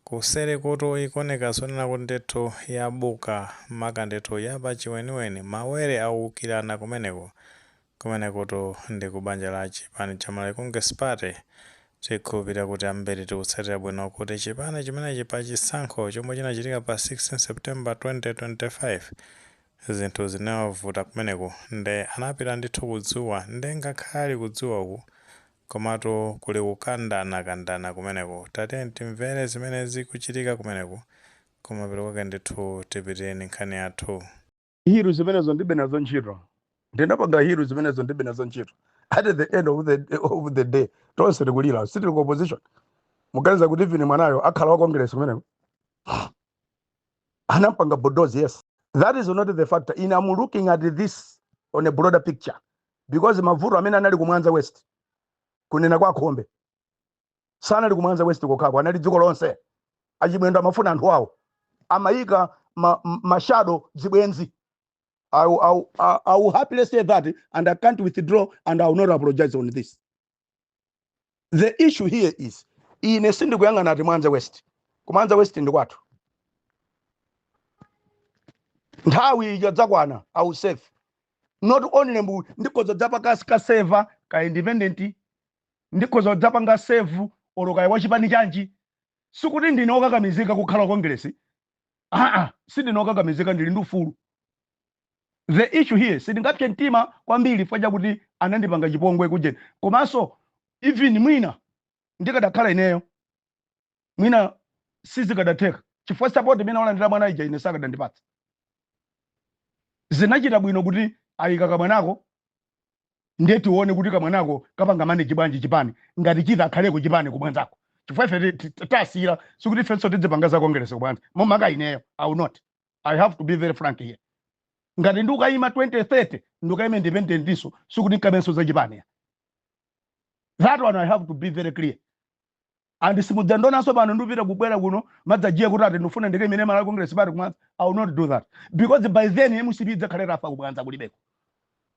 Kuseri kutu ikuoneka zonena kuti ndithu yabuka maka ndithu yapachiweniweni. Mawere aukirana kumeneko. Kumenekutu ndi ku banja la chipani cha Malawi Congress Party. Tikhulupirira kuti ambiri tikutsatira bwino kuti chipani chimenechi pa chisankho chomwe chinachitika pa 16 September 2025, zinthu zinawavuta kumeneko nde anapita ndithu ku dzuwa nde ngakhale ali ku dzuwa uku Komatu kuli kukandana kandana kumeneko tatiyeni timvere zimene zikuchitika kumeneko kumapeto kwake ndithu tipitire ndi nkhani yathu. Hiru zimenezo ndibe nazo ntchito ndinapanga hiru zimenezo ndibe nazo ntchito at the end of the, of the day tonse tikulira sitili ku opposition muganiza kuti even mwanayo akhala wa congress kumeneko anampanga bulldoze yes that is not the factor I am looking at this on a broader picture because mavuto amene anali ku mwanza west kunena kwa khombe sanali ku mwanza west kokhako anali dziko lonse a Chimwendo amafuna anthu awo amayika ma, m- mashado zibwenzi I, will- I, will- I, I will happily say that and I can't withdraw and I will not apologize on this the issue here is ine sindikuyang'ana ati mwanza west ku mwanza west ndi kwathu nthawi ikadzakwana I will serve not only mbu ndikhoza dzapanga kukaseva ka independent ndikhoza dzapanga serve olo kaya wachipani chanji sikuti ndine okakamizika kukhala wa kongresi aa sindine okakamizika ndili ndi ufulu the issue here sindingapse mtima kwambiri chifukwa chakuti anandipanga chipongwe kujeni komanso even mwina ndikadakhala ineyo mwina sizikadatheka chifukwa support imene walandira mwana ija ine sakadandipatsa zinachita bwino kuti ayika kamwanako ndiye tione kuti kamwanako kapanga manage bwanji chipani ngati chitha akhaleko chipani ku mwanzako chifukwa ife ti- ti- tasiyira sikuti ifenso tidzipanga za kongeresi ku mwanza makamaka ineyo i will not i have to be very frank here ngati ndikayima 2030 ndikayima independent ndiponso sikuti nkamvenso za chipani ya. that one i have to be very clear and simudzandionanso pano ndipita kubwera kuno madzajiya kuti ati ndifuna ndikayimire malawi congress party kumwanza i will not do that because by then mcp idzakhale itafa ku mwanza kulibeko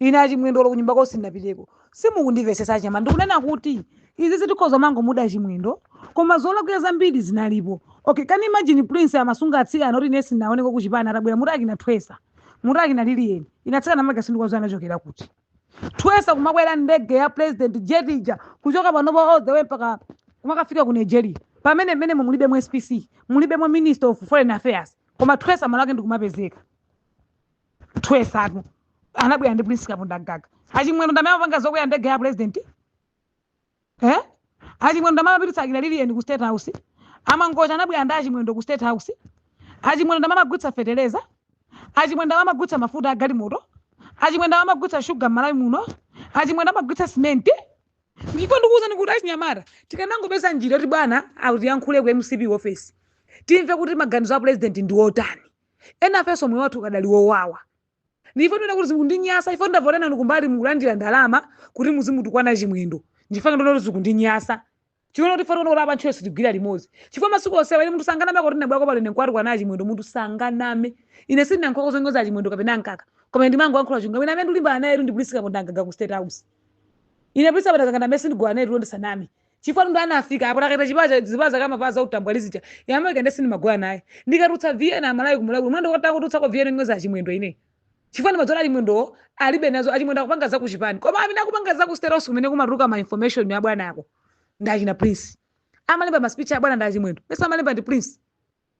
ine achimwendo olo kunyumba kwao sindinapiteko simukundimvetsetsa achama ndikunena kuti izizi tikhoza kumangomuda achimwendo koma zolakwira zambiri zinalipo okay can you imagine prince amasunga atsikana oti ine sindinaoneko kuchipani atabwera muti akina thwesa muti akina Lilian ine atsikana amake sindikuwadziwa anachokera kuti thwesa kumakwera ndege ya president jetija kuchoka panopa all the way mpaka kumakafika ku nigeria pamene mmene mulibe mu spc mulibe mu ministry of foreign affairs koma thwesa malo ake ndikumapezeka twesatu anabwera ndi prince kapondamgaga achimwendo ndamene amapanga zokwera ndege ya president eh achimwendo ndamene amapititsa akira lilian ku state house amangocha anabwera ndi achimwendo ku state house achimwendo ndamene amagulitsa feteleza achimwendo ndamene amagulitsa mafuta agalimoto achimwendo ndamene amagulitsa shuga m'malawi muno achimwendo amagulitsa simenti ndipo ndikuwuzani kuti achinyamata tikanangopeza njira yoti bwana autiyankhule ku mcp office timve kuti maganizo a president ndi otani Enafenso moyo wathu ukadali wowawa. Ndiye ife tiona kuti zikundinyasa, ife ndavota nanu kumbali mukulandira ndalama kuti muzimutukwana Chimwendo. Nchifukwa ndiona kuti zikundinyasa. Chifukwa kuti ife tiona kuti apa ntchito sitigwira limodzi. Chifukwa masiku onsewa ine munthu sanganame kuti ndinabwerako pano ine nkuwatukwana a Chimwendo munthu sanganame. Ine sindinayankhuleko zonyoza a Chimwendo kapena a Mkaka. Koma ndimangoyankhula chilungamo. Ine amene ndikulimbana naye ndi Prince Kapondamgaga ku State House. Ine Prince Kapondamgaga ndi amene sindigona naye tulo ndisaname. Chifukwa ndo anafika apa takata chipewa cha zipewa zake amavala za utambwali zija. Yamwe kende sindimagona naye. Ndikatulutsa VN amalawi kumulawi mwendo wota kutulutsako VN yonyoza achimwendo ine. Chifukwa ndimadziwa achimwendo alibe nazo achimwendo akupanga za kuchipani. Koma amene akupanga za ku state house kumene kumatuluka ma information ya bwana ako. Ndachina Prince. Amalemba ma speech a bwana ndi achimwendo. Mesa amalemba ndi Prince.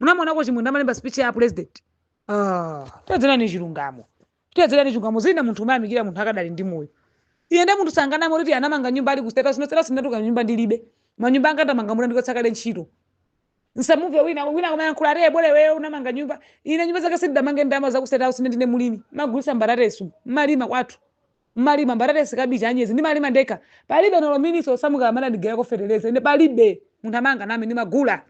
munamuonako chimwendo amalemba speech ya president ah tiyezelani chilungamo tiyezelani chilungamo zina munthu umayamikira munthu akadali ndi moyo ine nde munthu sanganame kuti anamanga nyumba ali ku state house no state house ndatuluka nyumba ndilibe manyumba anga ndamanga atandichotsa kale ntchito ndisamve wina wina kumayankhula ati ebole wewe unamanga nyumba ine nyumba zake sindidamange ndalama za ku state house ine ndine mulimi ndimagulitsa mbatatesi mmalima kwathu mmalima mbatatesi kabichi anyezi ndimalima ndekha palibe olo minister osamuka amene anandigulirako feteleza ine palibe munthu amene anganame ndimagula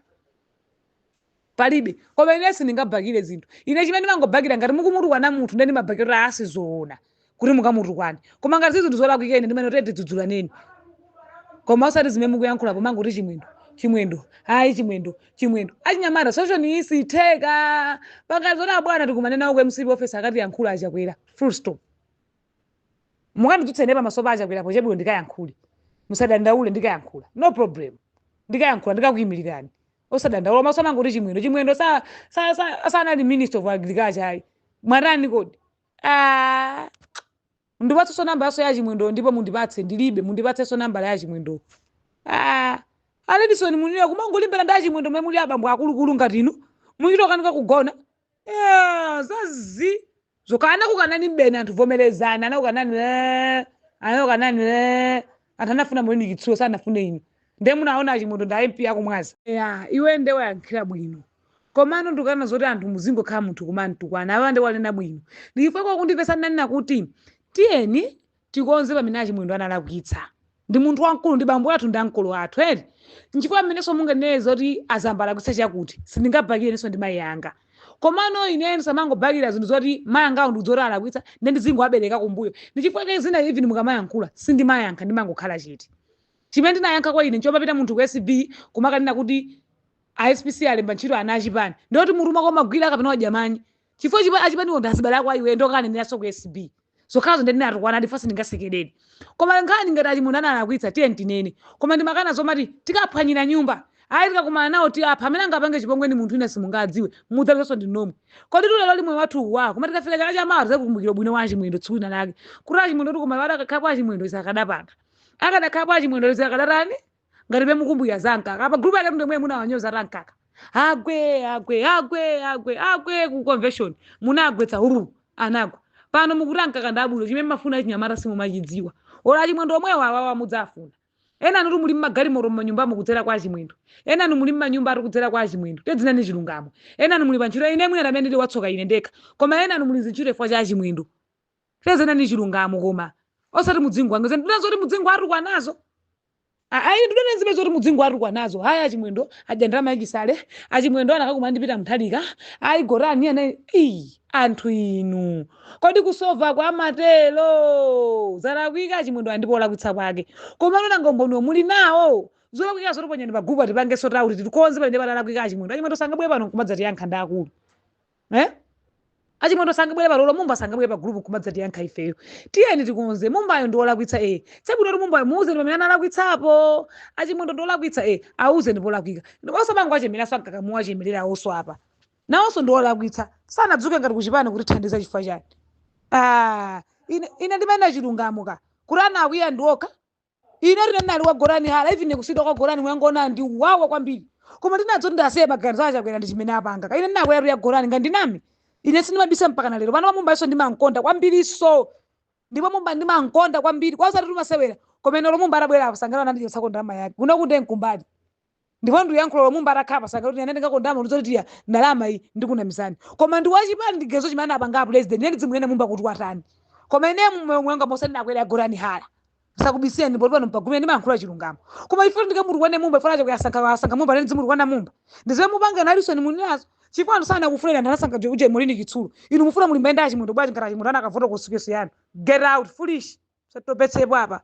palibe koma ine sindingabhakire zinthu ine chimene ndimangobhakira ngati mukumutukwana munthu ndiye ndimabhakira kuti aa sizoona kuti mukamutukwane koma ngati si zinthu zolakwika ine ndimanena kuti tidzudzulaneni koma osati zimene mukuyankhula pomangoti chimwendo chimwendo ayi chimwendo chimwendo achinyamata social iyi sitheka pangani zoti abwana tikumane nawo ku mcp office akatiyankhula achakwera full stop Mukandidzutsa ine pamaso pa achakwera pa tebulo ndikayankhule. Musadandaule ndikayankhula. No problem. Ndikayankhula ndikakuyimilirani. Osadandaula musamangoti chimwendo. Chimwendo sa sa sa sanali minister of agriculture ayi. Mwatani kodi? Ah. Ndipatsenso namba yaso ya chimwendo ndipo mundipatse ndilibe mundipatsenso namba ya chimwendo. Ah. Aledison munira kumangolimbana ndi achimwendo mmene muli abambo akulukulu ngati inu. Muchita kukanika kugona. Eh, zazii zokana kukanani mbeni anthu vomerezani anakukanani eh, anakukanani eh. anthu anafuna maureen chitsulo sanafune inu nde munaona achimwendo nda mp aku mwanza ya iwe nde wayankhira bwino komano ndikana zoti anthu muzingokhala munthu kumamtukwana awa nde wanena bwino ndichifukwa kundipeza ndinanena kuti tiyeni tikonze pamene a Chimwendo analakwitsa. Ndi munthu wamkulu, ndi bambo athu ndi ankolo athu eti. Nchifukwa pamenenso munganene zoti a Zamba alakwitsa chakuti, sindingabakire inenso ndi mayi anga. Komano ineyo ndisamangobakira zinthu zoti mayi angawo ndikudziwa kuti alakwitsa, nde ndizingowabereka kumbuyo. Ndi chifukwa chake zina even mukamayankhula, sindimayankha ndimangokhala chete. Chimene ndinayankhako ine nchomapita munthu ku ACB kumakanena kuti a SPC alemba ntchito ana achipani. Ndiye kuti mutu mwako umagwira kapena wadya manyi? chifukwa achipaniwo ndi azibale ako iwe ndokaneneraso ku acb zokhazo ndinatukwana ndifa sindingasekereni koma nkhani ngati achimwendo analakwitsa tiye tinene koma ndimakana zomati tikaphwanyira nyumba ayi tikakumana nawo tiapha amene angapange chipongwe ndi munthu wina simungadziwe mudzapezanso ndi nomwe koditu lero limwe wathu uwa koma tikafika chaka cha mawa tizakukumbukira ubwino wa achimwendo tsiku lina lake kuti achimwendo tikumawada akadakhalapo achimwendo izi sakadapanga akadakhalapo achimwendo izi sakadatani ngatibe mukumbukira za mkaka pa group yake ndimwe munawanyoza ati mkaka agwe agwe agwe agwe agwe ku convention munagwetsa hururu anagwa pano mukuti mkaka ndabwino chimene mumafuna achinyamata simumachidziwa olo achimwendo omwewawa mudzawafuna enanutu muli mmagalimoto mmanyumbamu kudzera kwa achimwendo enanu muli mmanyumba ati kudzera kwa achimwendo tadzinenani chilungamo enanu muli pa ntchito ine mwina amene ndili watsoka ine ndekha koma enanu muli zintchito chifukwa cha achimwendo tadzinenani chilungamo koma osati mudzingwangiza ndunena zoti mudzingowatukwanazo ayi ndunena zimene zoti mudzingowatukwanazo ayi achimwendo adya ndalama ya chisale achimwendo anakakumana ndi peter mutharika ayi gotani hara ayi anthu inu kodi kusova kwa matero zalakwika achimwendo andipo olakwitsa kwake komano nanga umboniwo muli nawo zolakwikazo taponyani pagulupa tipange sort out tikonze pamene palakwika achimwendo achimwendo sangabwere pano kumadzatiyankha ndi akulu eh? achimwendo sangabwere pano olo mumba sangabwere pa group kumadzatiyankha ifeyo tiyeni tikonze mumbayo ndi olakwitsa e zabwino kuti mumbayo muuzeni pamene analakwitsapo achimwendo ndi olakwitsa e auzeni polakwika osamangowachemereranso amkaka muwachemerera awonso apa nawonso ndi olakwitsa sanadzuke ngati kuchipani kutithandiza chifukwa chani ah, ine, ine ndimayendera chilungamo kaya kuti ena akwiya ndi okha Inetu ndinali wa Gotani Hara even kusiyidwa kwa Gotani kunandiwawa kwambiri. Koma ndinadziwa kuti ndisiye maganizo a Chakwera ndi chimene apanga. Koma ine ndinakweratu ya Gotani nga ndiname. Ine sindimabisa mpaka na lero. Pano Mumba iso ndimamkonda kwambirinso. Ndipo Mumba ndimamkonda kwambiri. Kwa osati kumasewera. Koma ine olo Mumba atabwera apa sanganene nandi chotsako ndalama yake. Kuno kunde nkumbali. ndipo ndikuyankhula olo mumba atakhala apa sanganene kuti ine ngakondama unizoti tiya ndalama iyi ndikunamizani koma ndi wachipani ndi gezo chimene anapanga a president ine ndidzimunene mumba kuti watani koma ine mumoyo mwanga mosati ndinakwera ya gotani hara sindikubisirani ndipo pano mpagumira ndimayankhula chilungamo koma ifo ndikamutukwane mumba chifukwa achakwera asankha asankha mumba nde ndidzimutukwana mumba ndiziwe mupanga nalisoni muninazo chifukwa anthu sanakufune anthu anasankha uje uje molini chitsulo inu mufuna mulimbane ndi achimwendo bwanji ngati achimwendo anakavota ku constituency yanu get out foolish satopetsepo apa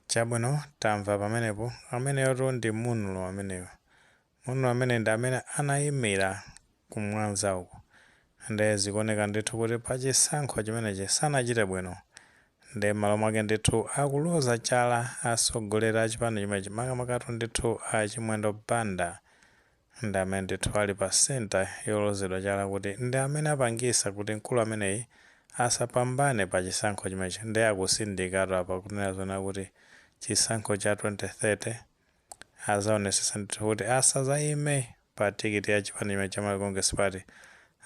chabwino tamva pamenepo ameneyotu ndi Munlo ameneyo Munlo amene ndi amene anayimira ku Mwanza uku nde zikuoneka ndithu kuti pa chisankho chimenechi sanachite bwino nde mmalo mwake ndithu akuloza chala atsogoleri a chipani chimenechi makamakatu ndithu a Chimwendo Banda ndi amene ndithu ali pa centre yolozedwa chala kuti ndi amene apangisa kuti mkulu ameneyi asapambane pa chisankho chimenechi nde akutsindikatu apa kunena zoona kuti chisankho cha 2030 azaonesesa ndithu kuti asazaime pa tikiti ya chipani chimenechi cha Malawi Congress Party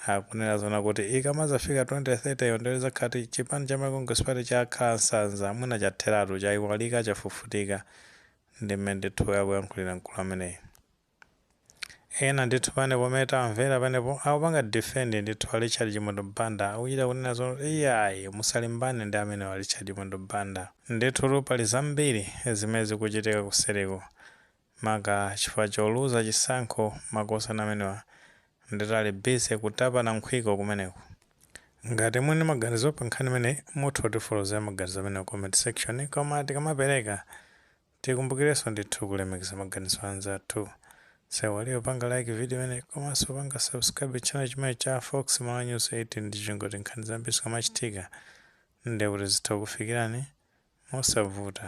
akunena zoona kuti ikamazafika 2030 yo nde lizakhati chipani cha Malawi Congress Party chakhala nsanza mwina chatheratu chaiwalika chafufutika ndi mmene ndithu akuyankhulira mkulu ameneyi. ena ndithu panepo pomwe tamvera panepo akupanga defend ndithu a Richard Chimwendo Banda akuchita kunena zoona iyayi musalimbane ndi amenewa Richard Chimwendo Banda ndithu pali zambiri zimene zikuchitika kuseriku maka chifukwa choluza chisankho makosana amenewa ndithu ali busy kutapana nkhwiko kumeneko ngati muli ndi maganizo pa nkhani imeneyi mutha kutifotokozera maganizo amenewa comment section koma tikamapereka Tikumbukirenso ndithu kulemekeza maganizo a anzathu. Tisaiwale kupanga like video imeneyi komanso kupanga subscribe channel chimenechi cha Fox Malawi News 18 ndi cholinga choti nkhani zambiri zikamachitika ndiye kuti zitha kukufikirani mosavuta.